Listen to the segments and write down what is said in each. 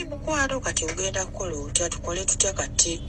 mukwano kati ogenda kukola otya tukole tutya kati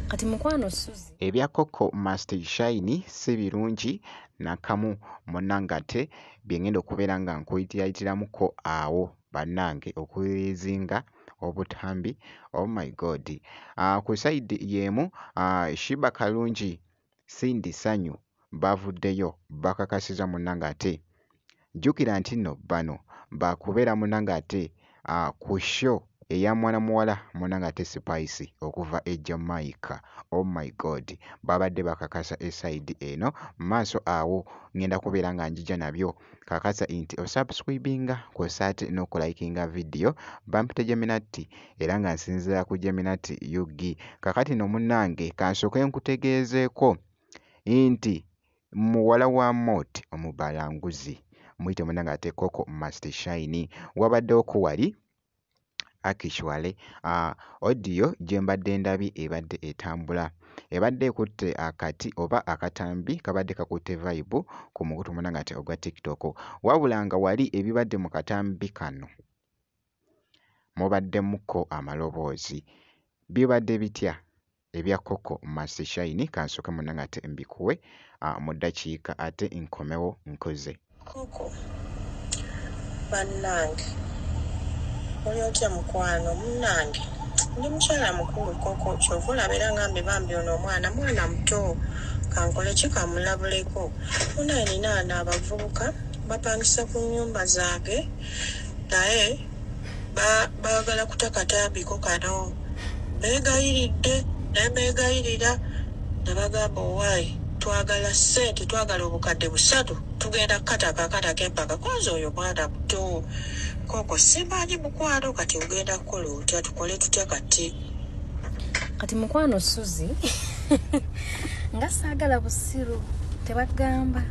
kati mukwano suzi ebya koko master shine si birungi nakamu munange ate byengenda okubeera nga nkuyitilayitiramuko awo bannange okuyizinga obutambi oh my god uh, ku saidi yeemu uh, shiba kalungi Cindy Sanyu bavuddeyo bakakasiza munange ate jjukira nti nno bano bakubeera munange ate uh, ku show eya mwana muwala munange ate Spice okuva e Jamaica oh my god babadde bakakasa esaidi eno maaso awo ngenda kubeera nga njija nabyo kakasa nti osubscribinga kw'ossa ate n'okulayikinga vidiyo bampite Geminati era nga nsinziira ku Geminati UG. Kakati no munnange kansooke nkutegeezeeko nti muwala wa Mot omubalanguzi muyite munnange ate Koko Must Shine wabaddewo ko wali Actually audio gye mbadde ndabye ebadde etambula, ebadde ekutte akati oba akatambi kabadde kakutte vayibu ku mukutu munnange ogwa tiktok. Wabula nga wali ebibadde mu katambi kano mubaddemukko amaloboozi. Bibadde bitya? ebya Coco must shine kansooke munange ate mbikuwe ah, mu dakiika ate nkomewo nkuze. Koko bannange oli otya mukwano munnange ndi mukyala mukulu koko kyova olaba era ngambe bambi ono omwana mwana muto kankole ki kamulabuleko munaye nina ana abavubuka bapangisa ku nyumba zange naye baagala kuta katambiko kano mbeegayiridde naye mbeegayirira ne bagamba owaayi twagala ssente twagala obukadde busatu tugenda kukataka akataka empaka kwanza oyo mwana muto koko simanyi mukwano kati ogenda kukola otya tukole tutya kati kati mukwano suzi nga saagala busiru tebagamba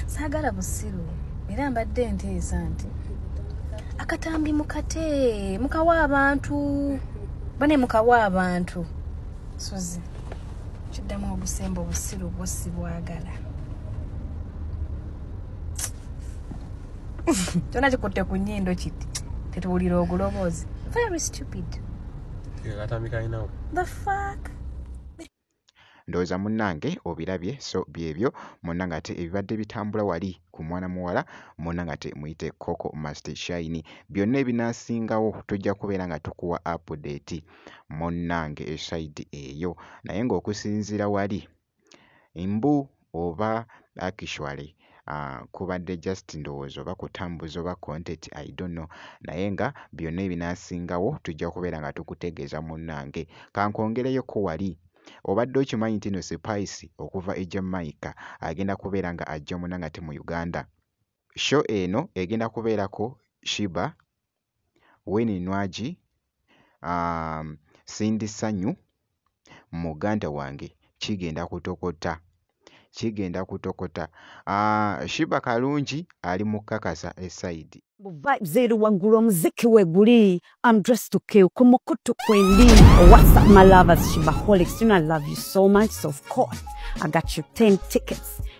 saagala busiru era mbadde nteesa nti akatambi mukate mukawa abantu bane mukawa abantu suzi kiddamu obusemba obusiru bwo sibwagala kyona kikutte ku nyindo kiti tetuwulira oguloboozi very stupid the fuck Ndowooza munnange obirabye, so byebyo munnange ate ebibadde bitambula wali ku mwana muwala munnange ate muyite Coco must shine. Byonna ebinaasingawo tujja kubeera nga tukuwa update munnange e side eyo naye ng'okusinziira wali mbu. oba actually uh, kubadde just ndowooza oba kutambuza oba content i don't know naye nga byonna ebinasingawo tujja kubeera nga tukutegeeza munnange kankwongereyoko wali obadde okimanyi nti no sipaisi okuva e jamaica agenda kubeera nga ajja munanga ti mu uganda sho eno egenda kubeerako shiba Winnie Nwagi, Cindy Sanyu, muganda wange kigenda kutokota, kigenda kutokota. Sheebah Kalungi ali mu kukakasa e sayidi. Mbu vibes eri waggulu omuziki we guli I'm dressed to kill ku mukutu kwendi. What's up my lovers Sheebaholics, you know I love you so much so of course I got you 10 tickets.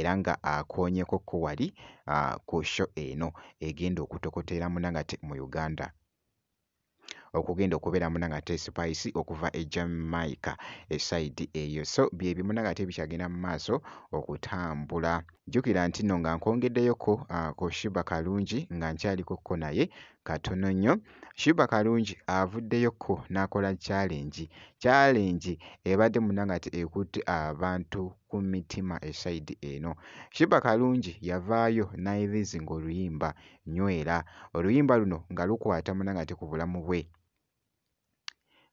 era nga akoonyeko ko wali ku show eno egenda okutokotera munangate mu Uganda okugenda okubeera munangate spice okuva e Jamaica esayidi eyo so bye bimu nangate bikyagenda mu maaso okutambula jjukira nti nno nga nkwongeddeyoko ku Shiba Kalungi nga nkyaliko ko naye katono nnyo shuba kalungi avuddeyokko n'akola challenge challenge ebadde muna nga ti ekutte abantu ku mitima esaidi eno shuba kalungi yavaayo n'ayirizinga oluyimba nywera oluyimba luno nga lukwata muna nga ti ku bulamu bwe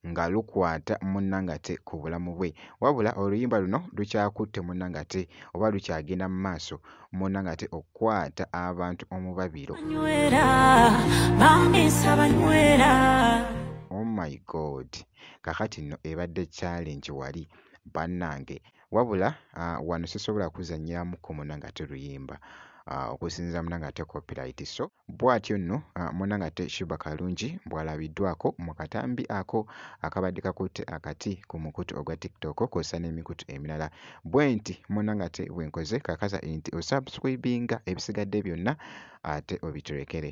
nga lukwata munnangate ku bulamu bwe wabula oluyimba luno lukyakutte munnangate oba lukyagenda mu maaso munnangate okukwata abantu omubabiro oh my god kakati nno ebadde challenge wali bannange wabula uh, wano sisobola kuzanyiramu ku munnangate luyimba uh, okusinzira munnangate copyright so Bwatyo nno munange ate Sheeba Kalungi bw'alabiddwako mu katambi ako akabadde kakutte akati ku mukutu ogwa TikTok kwossa n'emikutu emirala. Bwenti munange ate bwenkoze kakasa nti osubscribinga ebisigadde byonna ate obitulekere.